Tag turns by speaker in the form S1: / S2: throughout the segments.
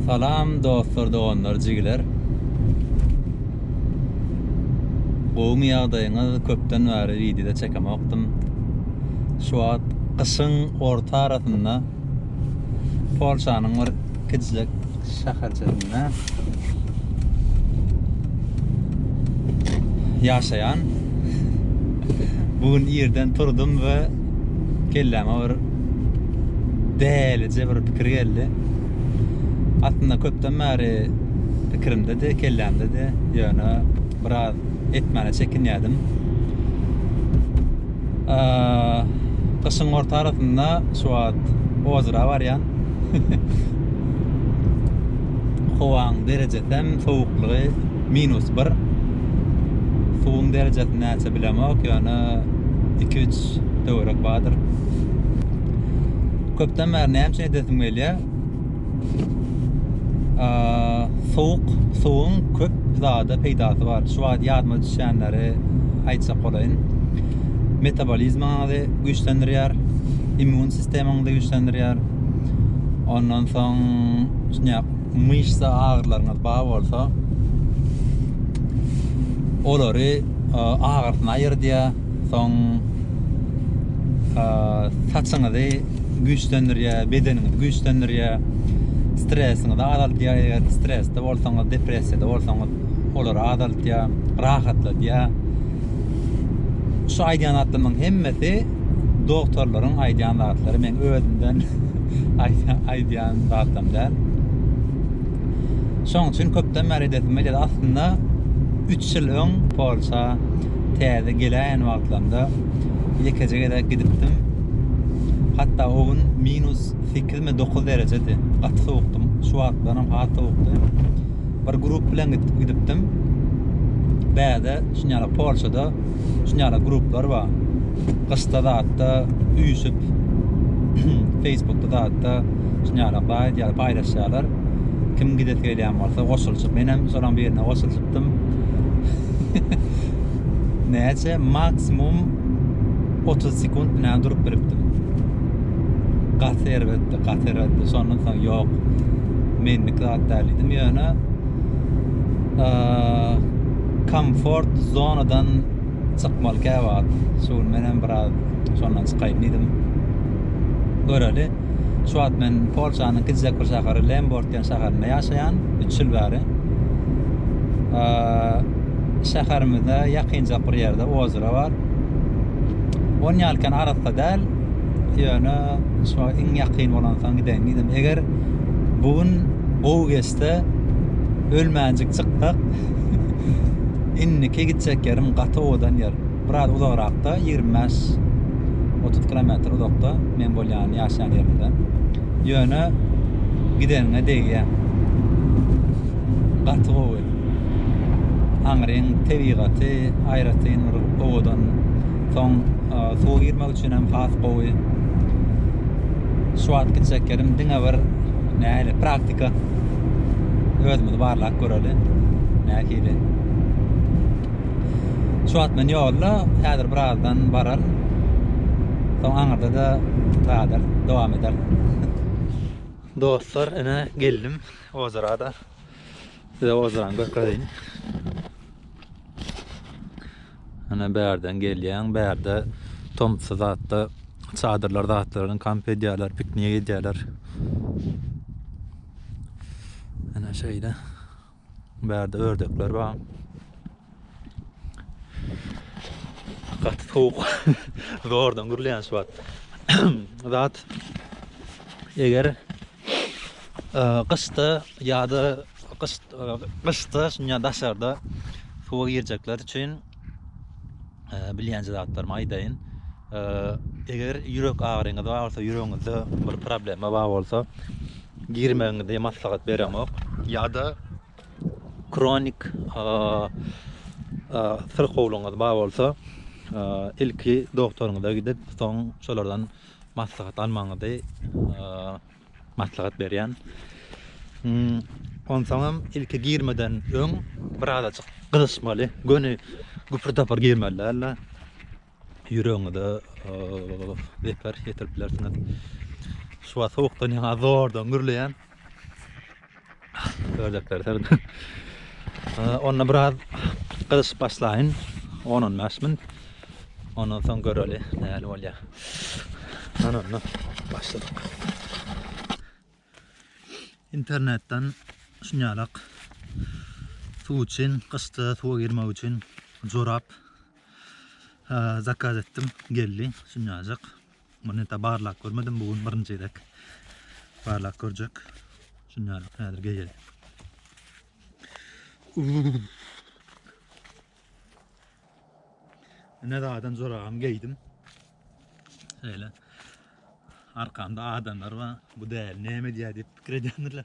S1: Salam dostlar doganlar jigiler. Gowmy ýagdaýyňyz köpden bäri wideo çekemokdym. Şu wagt gyşyň orta arasynda Polşanyň bir kiçijek şäherçesinde ýaşaýan. Bu gün irden turdum we kelläme bir dälije bir pikir geldi. Aslynda köpden bäri pikirimde-de, kellämde-de, ýöne biraz etmäne çekinýärdim. Gyşyň orta arasynda şu wagt ozra barýan. Howaň derejesi hem sowuklygy minus bir. Suwuň derejesi näçe bilemok, ýöne iki-üç Ýaş, töwerek badyr. Köpden bäri näme üçin edesim gelýär? Sowuk, suwuň köp zada peýdasy bar. Şu wagt ýadyma düşýänleri aýtjak bolaýyn. Metabolizmiňizi güýçlendirýär, immun sistemaňyzy güýçlendirýär. Ondan soň şuňa myşsa agyrylaryňyz bar bolsa, olary agyrysyny aýyrdýar. Soň saçyňyzy güýçlendirýär, bedeniňizi güýçlendirýär. Stresiňizi azaldýar, eger stresde bolsaňyz, depressiýada bolsaňyz, olary azaldýar, rahatladýar. Şu aýdýan zatlarymyň hemmesi doktorlaryň aýdýan zatlary, men özümden aýdýan zatlarym däl. Şoň üçin köpden bäri edesim gelýär. Aslynda 3 ýyl öň Polşa täze geläýen wagtlarynda ýekeje gezek gidipdim. Hatda o gün minus 8 mi 9 derejedi. Gaty sowukdy. Şu wagtlar hem has sowukdy. Bir grup bilen gidip gidipdim. Bäde şunýala Polşada şunýala gruplar bar. Gyşda zatda üýşüp Facebookda zatda şunýala baý diýýär, paýlaşýarlar. Kim gidesi gelýän bolsa goşulyşyp, men hem şolaryň birine goşulyşyp tapdym. Näçe maksimum 30 sekund bilen durup bilipdim. Gaty erbetdi, gaty erbetdi. Şondan soň ýok. Menlik zat däl diýdim. Ýöne komfort zonadan çykmaly käwagt. Şu gün men hem biraz şondan çykaýyn diýdim. Göreli. Şu wagt men Polşanyň kiçijek bir şäheri Lemborg Türkmen şäherinde ýaşaýan, üç ýyl bäri. Şäherimizde ýakynjak bir ýerde ozera bar. On ýalkan arassa däl, ýöne şu wagt iň ýakyn bolansoň gideýin diýdim. Eger bu gün gowy geçse, ölmänjik çyksak, indiki gitjek ýerim gaty owadan ýer. Biraz uzagrakda, ýigrimi bäş, otuz kilometr uzakda men bolýan ýaşaýan ýerimden. Ýöne gideniňe degýäň. Gaty gowy. Aňryň tebigaty aýratyn bir owadan. Soň suwa girmek üçin hem has gowy. Şu wagt gitjek ýerim diňe bir nähili praktika. Özümizi barlap göreli. Nähili. Şu wagt men ýolda, häzir birazdan bararyn. Soň aňyrda-da zadar dowam ederin. Dostlar, ine geldim ozera-da. Size ozerany görkezeýin. Ine bärden gelýän, bärde tomsy zatda çadyrlar zatlaryny kamp edýärler, piknik edýärler. Ine şeýle. Bärde ördekler bar. Gaty sowuk. Zordan gürleýän şu wagt. Zat eger gyşda ýa-da gyşda şuňa daşarda suwa girjekler üçin bilýänje zatlarymy aýdaýyn. Eger ýürek agyryňyz bar bolsa, ýüregiňizde bir problema bar bolsa, girmegiňizi maslahat beremok. Ýa-da kronik syrkawlygyňyz bar bolsa, ilki doktoryňyza gidip, soň şolardan maslahat almagyňyzy Maslahat berýän. Onsoňam ilki girmeden öň bir azajyk gyzyşmaly. Göni güpür-tapyr girmeli däl-de. Ýüregiňize zeper ýetirip bilersiňiz. Şu wagt sowukdan ýaňa zordan gürleýän. Ördekler serdi. Onda biraz gyzyşyp başlayın. 10-15 min. Ondan soň göreli näli bolýar. Ana onda başladyk. İnternetden şunýalak suw üçin, gyşda suwa girmek üçin jorap zakaz etdim. Geldi şunýajyk. Muny da barlap görmedim bu gün birinji gezek barlap görjek. Şundan ýaly häzir geýeli. Ne zaten zoragam geýdim. Şöyle arkamda adamlar var. Bu değer ne mi diye deyip fikir edendirler.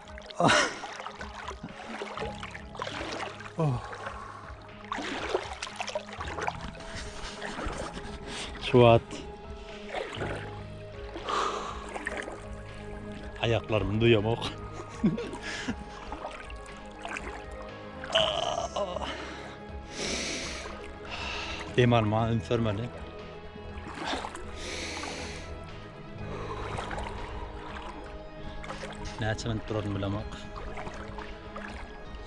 S1: Şu wagt aýaklarymy duýamok. Dem alma üns bermeli. Näçe minut duraryn bilemok.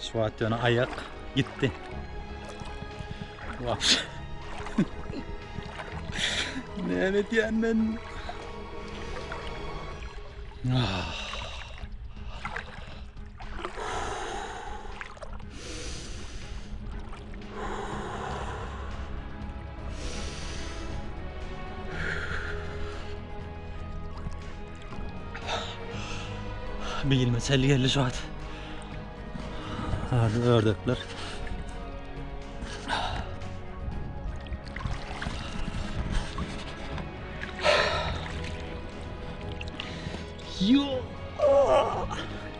S1: Şu wagt ýöne aýak gitdi. Wapş. Näme edýän men? Ah. Bilme çel geldi şu at. Hadi ördekler. Yo.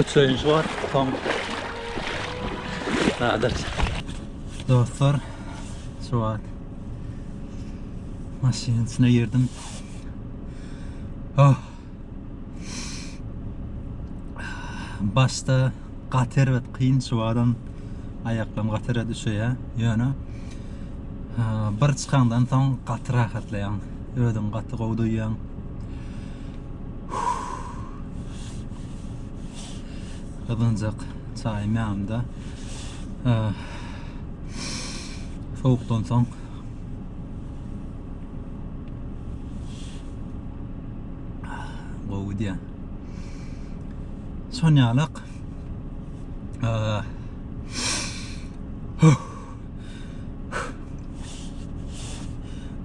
S1: Öçüreýinçi bar. Soň Nadir. Dostlar, şu wagt maşynyň içine girdim. Oh. Başda gaty erbet, kyn şu wagtam aýaklarym gaty erbet üşeýär. Ýöne bir çykandan soň gaty rahatlaýaň. Özüňi gaty gowy duýýaň. Gazanjak çaýym ýanymda. Sowukdan soň gowy diýýän. Şon ýalak.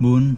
S1: Bu gün